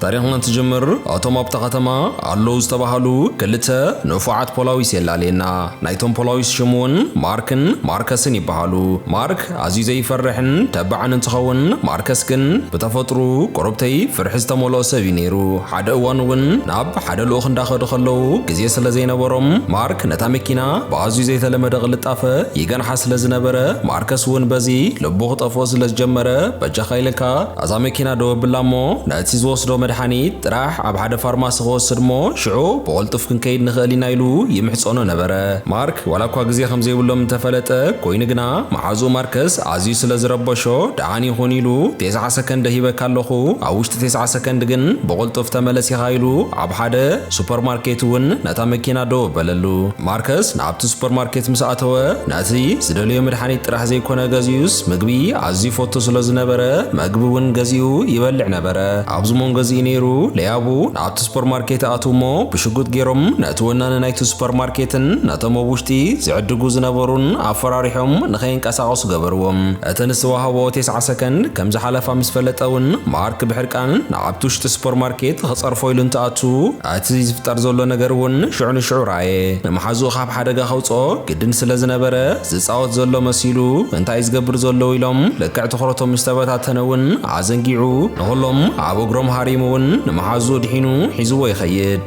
ታሪኽና እንትጅምር ኣቶም ኣብታ ከተማ ኣለዉ ዝተባሃሉ ክልተ ንፉዓት ፖላዊስ የላልየና። ናይቶም ፖላዊስ ሽም ውን ማርክን ማርከስን ይበሃሉ። ማርክ ኣዝዩ ዘይፈርሕን ተባዕን እንትኸውን ማርከስ ግን ብተፈጥርኡ ቁርብተይ ፍርሒ ዝተመልኦ ሰብ እዩ ነይሩ። ሓደ እዋን ውን ናብ ሓደ ልኡኽ እንዳኸዱ ከለዉ ግዜ ስለ ዘይነበሮም ማርክ ነታ መኪና ብኣዝዩ ዘይተለመደ ቅልጣፈ ይገንሓ ስለ ዝነበረ ማርከስ ውን በዚ ልቡ ክጠፍኦ ስለ ዝጀመረ በጃኻ ኢልካ ናዛ መኪና ደው ኣብላ እሞ ነቲ ዝወስዶ መድሓኒት ጥራሕ ኣብ ሓደ ፋርማሲ ክወስድ እሞ ሽዑ ብቕልጡፍ ክንከይድ ንኽእል ኢና ኢሉ ይምሕጸኖ ነበረ። ማርክ ዋላ እኳ ግዜ ከም ዘይብሎም እንተ ፈለጠ፣ ኰይኑ ግና መሓዝኡ ማርከስ ኣዝዩ ስለ ዝረበሾ ደሓን ይኹን ኢሉ ቴስዓ ሰከንደ ሂበካ ኣለኹ፣ ኣብ ውሽጢ ቴስዓ ሰከንድ ግን ብቕልጡፍ ተመለስ ኢኻ ኢሉ ኣብ ሓደ ሱፐርማርኬት እውን ነታ መኪና ደው ኣበለሉ። ማርከስ ናብቲ ሱፐርማርኬት ምስ ኣተወ ነቲ ዝደለዮ መድሓኒት ጥራሕ ዘይኰነ ገዚኡስ ምግቢ ኣዝዩ ይፈቱ ስለ ዝነበረ መግቢ እውን ገዚኡ ይበልዕ ነበረ። ኣብዚ መንጎ እዚ እዩ ነይሩ ለያቡ ናብቲ ሱፐርማርኬት ይኣትው እሞ ብሽጉጥ ገይሮም ነቲ ወናኒ ናይቲ ሱፐርማርኬትን ነቶም ኣብ ውሽጢ ዝዕድጉ ዝነበሩን ኣፈራሪሖም ንኸይንቀሳቐሱ ገበርዎም። እተን ዝተዋህቦ ቴስዓ ሰከንድ ከም ዝሓለፋ ምስ ፈለጠ እውን ማርክ ብሕርቃን ናብቲ ውሽጢ ሱፐርማርኬት ኽጸርፎ ኢሉ እንትኣቱ እቲ ዝፍጠር ዘሎ ነገር እውን ሽዑ ንሽዑ ረኣየ። ንመሓዝኡ ኻብ ሓደጋ ከውጽኦ ግድን ስለ ዝነበረ ዝጻወት ዘሎ መሲሉ እንታይ እዩ ዝገብር ዘሎ ኢሎም ልክዕ ትኹረቶም ምስ ተበታተነ እውን ኣዘንጊዑ ንኹሎም ኣብ እግሮም ሃሪሙ እውን ንመሓዙኡ ድሒኑ ሒዝዎ ይኸይድ።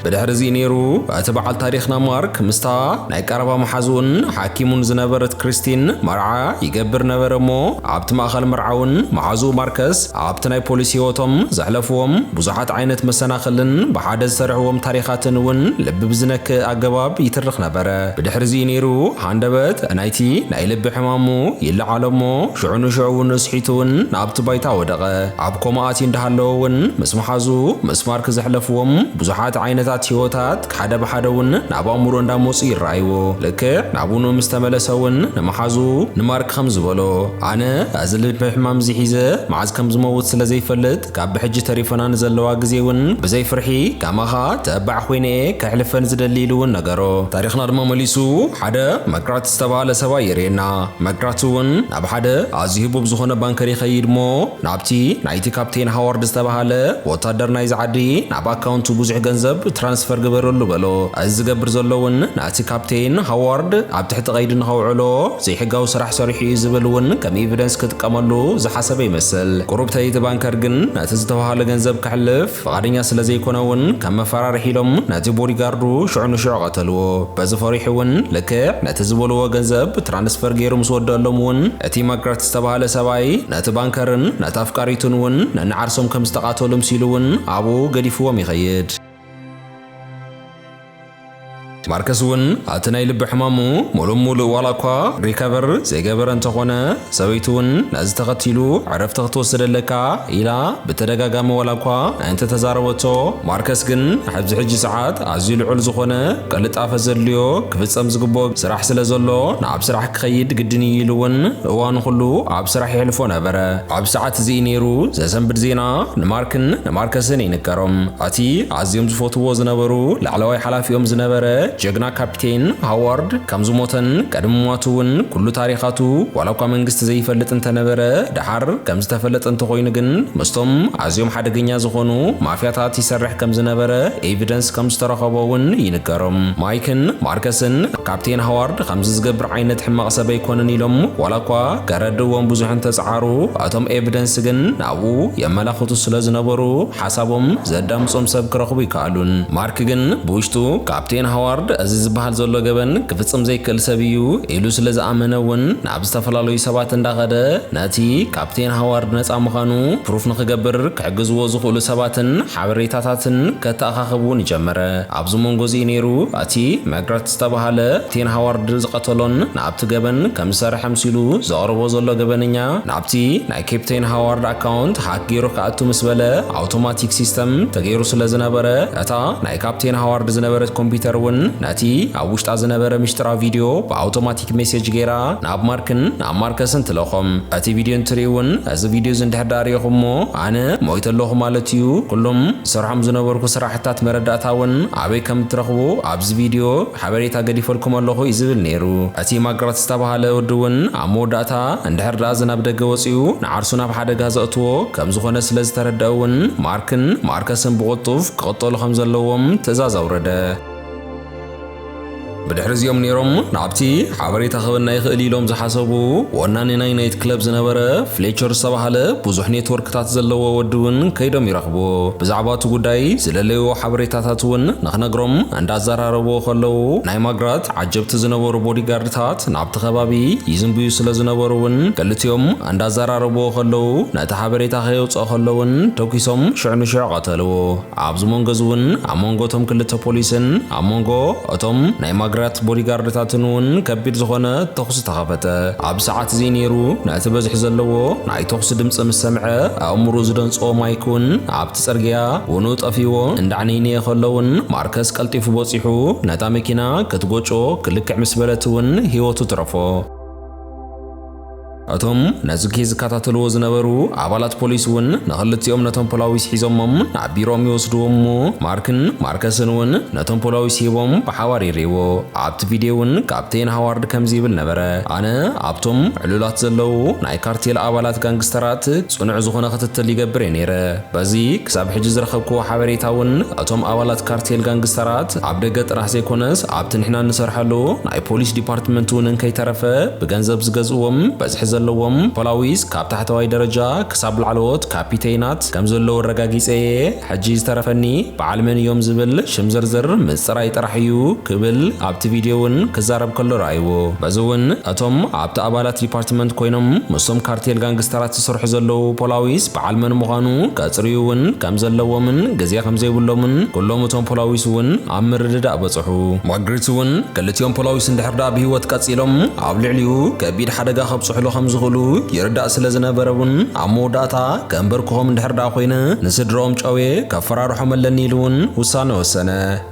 ብድሕሪ እዚ ነይሩ እቲ በዓል ታሪኽና ማርክ ምስታ ናይ ቀረባ መሓዝኡን ሓኪሙን ዝነበረት ክሪስቲን መርዓ ይገብር ነበረ እሞ ኣብቲ ማእኸል መርዓ እውን መሓዝኡ ማርከስ ኣብቲ ናይ ፖሊስ ህይወቶም ዘሕለፍዎም ብዙሓት ዓይነት መሰናኽልን ብሓደ ዝሰርሕዎም ታሪኻትን እውን ልቢ ብዝነክእ ኣገባብ ይትርኽ ነበረ። ብድሕሪዚ እዩ ነይሩ ሃንደበት ናይቲ ናይ ልቢ ሕማሙ ይለዓሎ እሞ ሽዑ ንሽዑ እውን እስሒቱ እውን ናብቲ ባይታ ወደቐ። ኣብ ኮማ ኣትዩ እንዳሃለወ እውን ምስ መሓዝኡ ምስ ማርክ ዘሕለፍዎም ብዙሓት ዓይነታት ህይወታት ሓደ ብሓደ እውን ናብ ኣእምሮ እንዳመጹ ይረኣይዎ። ልክዕ ናቡኑ ምስ ተመለሰ እውን ንመሓዝኡ ንማርክ ከም ዝበሎ፣ ኣነ እዚ ልቢ ሕማም እዚ ሒዘ መዓዝ ከም ዝመውት ስለ ዘይፈልጥ ካብ ብሕጂ ተሪፈና ንዘለዋ ግዜ እውን ብዘይ ፍርሒ ከማኻ ተባዕ ኮይነ እየ ከሕልፈን ዝደሊ ኢሉ እውን ነገሮ። ታሪኽና ድማ መሊሱ ሓደ መግራት ዝተባህለ ሰብኣይ የርእየና። መግራት እውን ናብ ሓደ ኣዝዩ ህቡብ ዝኾነ ባንከር ይኸይድ'ሞ፣ ናብቲ ናይቲ ካፕቴን ሃዋርድ ዝተባህለ ወታደር ናይዚ ዓዲ ናብ ኣካውንቱ ብዙሕ ገንዘብ ትራንስፈር ግበረሉ በሎ። እዚ ዝገብር ዘሎ'ውን ነቲ ካፕቴን ሃዋርድ ኣብ ትሕቲ ቀይዲ ንኸውዕሎ ዘይሕጋዊ ስራሕ ሰሪሑ እዩ ዝብል እውን ከም ኢቪደንስ ክጥቀመሉ ዝሓሰበ ይመስል። ቁሩብተይ እቲ ባንከር ግን ነቲ ዝተባህለ ገንዘብ ከሕልፍ ፍቓደኛ ስለ ዘይኮነ እውን ከም መፈራርሒ ኢሎም ነቲ ቦዲጋርዱ ሽዑ ንሽዑ ቀተልዎ። በዚ ፈሪሑ እውን ልክዕ ነቲ ዝበልዎ ገንዘብ ብትራንስፈር ገይሩ ምስ ወደኣሎም እውን እቲ ማግራት ዝተባህለ ሰብኣይ ነቲ ባንከርን ነታ ኣፍቃሪቱን እውን ነንዓርሶም ከም ዝተቓተሉ ምሲሉ እውን ኣብኡ ገዲፍዎም ይኸይድ። ማርከስ እውን ኣቲ ናይ ልቢ ሕማሙ ሙሉእ ሙሉእ ዋላ እኳ ሪከቨር ዘይገበረ እንተኾነ ሰበይቱ እውን ነዚ ተኸቲሉ ዕረፍቲ ክትወስድ ኣለካ ኢላ ብተደጋጋሚ ዋላ እኳ እንተተዛረበቶ ማርከስ ግን ኣብዚ ሕጂ ሰዓት ኣዝዩ ልዑል ዝኾነ ቅልጣፈ ዘድልዮ ክፍጸም ዝግብኦ ስራሕ ስለ ዘሎ ናብ ስራሕ ክኸይድ ግድን እዩ ኢሉ እውን እዋኑ ኩሉ ኣብ ስራሕ የሕልፎ ነበረ። ኣብ ሰዓት እዚ እዩ ነይሩ ዘሰንብድ ዜና ንማርክን ንማርከስን ይንገሮም። ኣቲ ኣዝዮም ዝፈትውዎ ዝነበሩ ላዕለዋይ ሓላፊኦም ዝነበረ ጀግና ካፒቴን ሃዋርድ ከም ዝሞተን ቀድሚ ምሟቱ እውን ኩሉ ታሪኻቱ ዋላ እኳ መንግስቲ ዘይፈልጥ እንተነበረ ደሓር ከም ዝተፈለጠ እንተኾይኑ ግን ምስቶም ኣዝዮም ሓደገኛ ዝኾኑ ማፍያታት ይሰርሕ ከም ዝነበረ ኤቪደንስ ከም ዝተረኸቦ እውን ይንገሮም። ማይክን ማርከስን ካፒቴን ሃዋርድ ከምዚ ዝገብር ዓይነት ሕማቕ ሰብ ኣይኮነን ኢሎም ዋላ እኳ ከረድእዎም ብዙሕ እንተጸዓሩ እቶም ኤቪደንስ ግን ናብኡ የመላኽቱ ስለ ዝነበሩ ሓሳቦም ዘዳምጾም ሰብ ክረኽቡ ኣይከኣሉን። ማርክ ግን ብውሽጡ ካፕቴን ሃዋርድ እዚ ዝበሃል ዘሎ ገበን ክፍጽም ዘይክእል ሰብ እዩ ኢሉ ስለ ዝኣመነ እውን ናብ ዝተፈላለዩ ሰባት እንዳኸደ ነቲ ካፕቴን ሃዋርድ ነጻ ምዃኑ ፕሩፍ ንኽገብር ክሕግዝዎ ዝኽእሉ ሰባትን ሓበሬታታትን ከተኣኻኽብ እውን ጀመረ። ኣብዚ መንጎ እዚ እዩ ነይሩ እቲ መግረት ዝተበሃለ ካፕቴን ሃዋርድ ዝቐተሎን ናብቲ ገበን ከም ዝሰርሐ ኣምሲሉ ዘቕርቦ ዘሎ ገበነኛ ናብቲ ኬፕቴን ሃዋርድ ኣካውንት ሃክ ገይሩ ክኣቱ ምስ በለ ኣውቶማቲክ ሲስተም ተገይሩ ስለ ዝነበረ እታ ናይ ካፕቴን ሃዋርድ ዝነበረት ኮምፒውተር እውን ነቲ ኣብ ውሽጣ ዝነበረ ምሽጥራዊ ቪድዮ ብኣውቶማቲክ ሜሴጅ ገይራ ናብ ማርክን ናብ ማርከስን ትለኾም እቲ ቪድዮ እንትርኢ እውን እዚ ቪድዮ እዚ እንድሕር ደኣ ሪኢኹሞ ኣነ ሞይተ ኣለኹ ማለት እዩ ኩሎም ዝሰርሖም ዝነበርኩ ስራሕታት መረዳእታ እውን ኣበይ ከም እትረኽቡ ኣብዚ ቪድዮ ሓበሬታ ገዲፈልኩም ኣለኹ እዩ ዝብል ነይሩ። እቲ ማግራት ዝተባህለ ወዲ እውን ኣብ መወዳእታ እንድሕር ደኣ እዚ ናብ ደገ ወጺኡ ንዓርሱ ናብ ሓደጋ ዘእትዎ ከም ዝኾነ ስለ ዝተረድኣ እውን ማርክን ማርከስን ብቕልጡፍ ክቕተሉ ከም ዘለዎም ትእዛዝ ኣውረደ። ብድሕሪ እዚኦም ነይሮም ናብቲ ሓበሬታ ክህበና ይኽእል እዩ ኢሎም ዝሓሰቡ ወናኒ ናይ ናይት ክለብ ዝነበረ ፍሌቸር ዝተባህለ ብዙሕ ኔትወርክታት ዘለዎ ወዲ እውን ከይዶም ይረኽብዎ። ብዛዕባ እቲ ጉዳይ ዝደለይዎ ሓበሬታታት እውን ንኽነግሮም እንዳዘራረብዎ ከለዉ ናይ ማግራት ዓጀብቲ ዝነበሩ ቦዲጋርድታት ናብቲ ከባቢ ይዝንብዩ ስለ ዝነበሩ እውን ክልቲኦም እንዳዘራረብዎ ከለዉ ነቲ ሓበሬታ ከየውጽኦ ከሎ እውን ተኲሶም ሽዕ ንሽዕ ቐተልዎ። ኣብዚ መንጎ እዚ እውን ኣብ መንጎ እቶም ክልተ ፖሊስን ኣብ መንጎ እቶም ናይ ማግራት ቦዲጋርድታትን እውን ከቢድ ዝኾነ ተኹሲ ተኸፈተ። ኣብዚ ሰዓት እዚ ነይሩ ነቲ በዝሒ ዘለዎ ናይ ተኹሲ ድምጺ ምስ ሰምዐ ኣእምርኡ ዝደንጸዎ ማይክ እውን ኣብ ጽርግያ ውኑ ጠፊዎ እንዳዕንይንየ ከሎውን ማርከስ ቀልጢፉ ቦጺሑ ነታ መኪና ክትጎጮ ክልክዕ ምስ በለት እውን ህይወቱ ትረፎ። እቶም ነዚ ኬዝ ዝከታተልዎ ዝነበሩ ኣባላት ፖሊስ እውን ንክልቲኦም ነቶም ፖላዊስ ሒዞሞም ናብ ቢሮኦም ይወስድዎም እሞ ማርክን ማርከስን እውን ነቶም ፖላዊስ ሂቦም ብሓባር ይርእይዎ። ኣብቲ ቪድዮ እውን ካፕቴን ሃዋርድ ከምዚ ይብል ነበረ ኣነ ኣብቶም ዕሉላት ዘለዉ ናይ ካርቴል ኣባላት ጋንግስተራት ጽኑዕ ዝኾነ ክትትል ይገብር እየ ነይረ። በዚ ክሳብ ሕጂ ዝረኸብክዎ ሓበሬታ እውን እቶም ኣባላት ካርቴል ጋንግስተራት ኣብ ደገ ጥራሕ ዘይኮነስ ኣብቲ ንሕና እንሰርሐሉ ናይ ፖሊስ ዲፓርትመንት እውን እንከይተረፈ ብገንዘብ ዝገዝእዎም በዝሒ ዘለዎም ፖላዊስ ካብ ታሕተዋይ ደረጃ ክሳብ ላዕለዎት ካፒተይናት ከምዘለዉ ኣረጋጊጸ እየ። ሕጂ ዝተረፈኒ በዓል መን እዮም ዝብል ሽም ዝርዝር ምጽራይ ጥራሕ እዩ ክብል ኣብቲ ቪድዮ እውን ክዛረብ ከሎ ረኣይዎ። በዚ እውን እቶም ኣብቲ ኣባላት ዲፓርትመንት ኮይኖም ምስቶም ካርቴል ጋንግስተራት ዝሰርሑ ዘለዉ ፖላዊስ በዓል መን ምዃኑ ከጽርዩ እውን ከም ዘለዎምን ግዜ ከም ዘይብሎምን ኩሎም እቶም ፖላዊስ እውን ኣብ ምርድዳእ በጽሑ። ማግሪት እውን ክልቲኦም ፖላዊስ እንድሕር ደኣ ብህይወት ቀጺሎም ኣብ ልዕሊኡ ከቢድ ሓደጋ ከብጽሑሉ ከም ዝኽእሉ ይርዳእ ስለ ዝነበረ እውን ኣብ መወዳእታ ከንበርክኾም እንድሕር ደኣ ኮይነ ንስድርኦም ጨውየ ከፈራርሖም ኣለኒ ኢሉ እውን ውሳነ ወሰነ።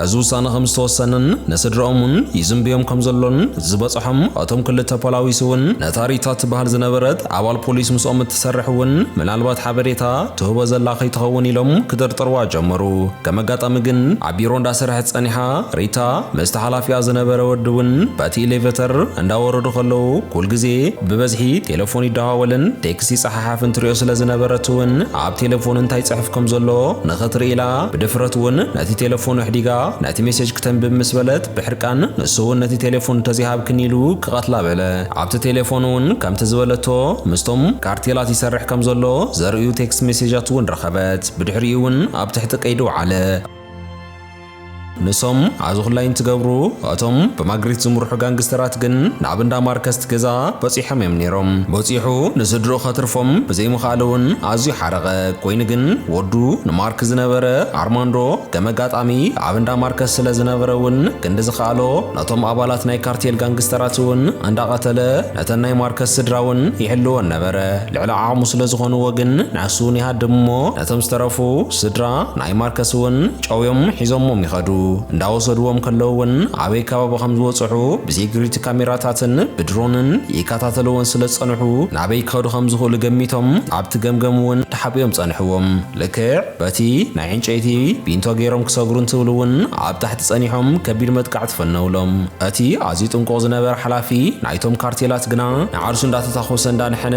እዚ ውሳነ ከም ዝተወሰነን ንስድርኦም እውን ይዝንብዮም ከም ዘሎን ዝበጽሖም እቶም ክልተ ፖላዊስ እውን ነታ ሪታ እትበሃል ዝነበረት ኣባል ፖሊስ ምስኦም እትሰርሕ እውን ምናልባት ሓበሬታ ትህቦ ዘላ ከይትኸውን ኢሎም ክጥርጥርዋ ጀመሩ። ከም ኣጋጣሚ ግን ኣብ ቢሮ እንዳሰርሐት ጸኒሓ ሪታ ምስቲ ሓላፊኣ ዝነበረ ወዲ እውን በቲ ኢሌቨተር እንዳወረዱ ከለዉ ኩልግዜ ብበዝሒ ቴለፎን ይደዋወልን ቴክስት ይጸሓሓፍን ትሪኦ ስለ ዝነበረት እውን ኣብ ቴለፎን እንታይ ይጽሕፍ ከም ዘሎ ንኽትርኢ ኢላ ብድፍረት እውን ነቲ ቴለፎን ኣሕዲጋ ነቲ ሜሴጅ ክተንብብ ምስ በለት ብሕርቃን ንሱ እውን ነቲ ቴለፎን እንተዘይሃብክኒ ኢሉ ክቐትላ በለ። ኣብቲ ቴለፎን እውን ከምቲ ዝበለቶ ምስቶም ካርቴላት ይሰርሕ ከም ዘሎ ዘርእዩ ቴክስት ሜሴጃት እውን ረኸበት። ብድሕሪኡ እውን ኣብ ትሕቲ ቀይዲ ወዓለ። ንሶም ኣዚ ኩላይ እንትገብሩ እቶም ብማግሪት ዝምርሑ ጋንግስተራት ግን ናብ እንዳ ማርከስት ገዛ በጺሖም እዮም ኔሮም። በጺሑ ንስድርኡ ከትርፎም ብዘይምኽኣሉ እውን ኣዝዩ ሓረቐ። ኮይኑ ግን ወዱ ንማርክ ዝነበረ ኣርማንዶ ከም ኣጋጣሚ ኣብ እንዳ ማርከስ ስለ ዝነበረ እውን ክንዲ ዝኸኣሎ ነቶም ኣባላት ናይ ካርቴል ጋንግስተራት እውን እንዳቐተለ ነተን ናይ ማርከስ ስድራ እውን ይሕልወን ነበረ። ልዕሊ ዓቕሙ ስለ ዝኾንዎ ግን ንሱ እውን ይሃድም እሞ ነቶም ዝተረፉ ስድራ ናይ ማርከስ እውን ጨውዮም ሒዞሞም ይኸዱ። እንዳወሰድዎም ከለዉ ውን ኣበይ ከባቢ ከም ዝበጽሑ ብሴኩሪቲ ካሜራታትን ብድሮንን ይከታተልዎን ስለ ዝጸንሑ ናበይ ክኸዱ ከም ዝኽእሉ ገሚቶም ኣብቲ ገምገም ውን ተሓቢኦም ጸንሕዎም። ልክዕ በቲ ናይ ዕንጨይቲ ቢንቶ ገይሮም ክሰግሩ እንትብሉ ውን ኣብ ታሕቲ ጸኒሖም ከቢድ መጥቃዕቲ ፈነውሎም። እቲ ኣዝዩ ጥንቁቕ ዝነበረ ሓላፊ ናይቶም ካርቴላት ግና ንዓርሱ እንዳተታኾሰ እንዳነሐነ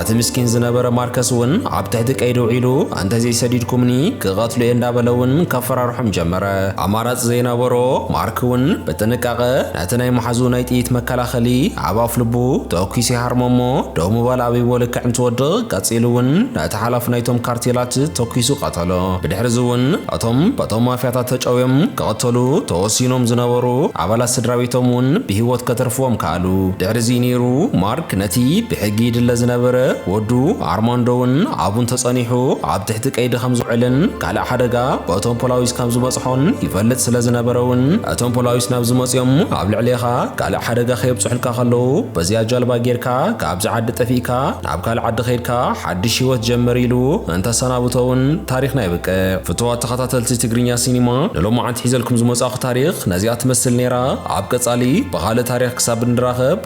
ነቲ ምስኪን ዝነበረ ማርከስ ውን ኣብ ትሕቲ ቀይዲ ኣውዒሉ ኣንተዘይሰዲድኩምኒ ክቐትሉ'የ እንዳበለ'ውን ከፈራርሖም ጀመረ። ኣማራጺ ዘይነበሮ ማርክ'ውን ብጥንቃቐ ነቲ ናይ መሓዝኡ ናይ ጥይት መከላኸሊ ኣብ ኣፍልቡ ተኲሱ ይሃርሞ'ሞ ደው ምባል ኣቢዎ ልክዕ እንትወድቕ ቀጺሉ'ውን ነቲ ሓላፊ ናይቶም ካርቴላት ተኲሱ ቀተሎ። ብድሕሪ'ዚ'ውን እቶም በቶም ማፍያታት ተጨውዮም ክቕተሉ ተወሲኖም ዝነበሩ ኣባላት ስድራቤቶም'ውን ብህይወት ከትርፍዎም ከኣሉ። ድሕሪ'ዚ ነይሩ ማርክ ነቲ ብሕጊ ይድለ ዝነበረ ወዱ ኣርማንዶ'ውን ኣብኡ እንተጸኒሑ ኣብ ትሕቲ ቀይዲ ከም ዝውዕልን ካልእ ሓደጋ በቶም ፖላዊስ ከም ዝበጽሖን ይፈልጥ ስለ ዝነበረ'ውን እቶም ፖላዊስ ናብዚ መጺኦም ኣብ ልዕሌኻ ካልእ ሓደጋ ከየብጽሑልካ ከለዉ በዚኣ ጃልባ ጌርካ ካብዚ ዓዲ ጠፊእካ ናብ ካልእ ዓዲ ከይድካ ሓድሽ ህይወት ጀምር ኢሉ እንተሰናብቶ'ውን ታሪኽ ናይ ብቅዕ። ፍቱዋት ተኸታተልቲ ትግርኛ ሲኒማ ንሎማዓንቲ ሒዘልኩም ዝመጻእኩ ታሪኽ ነዚኣ ትመስል ኔራ ኣብ ቀጻሊ ብኻልእ ታሪኽ ክሳብ እንራኸብ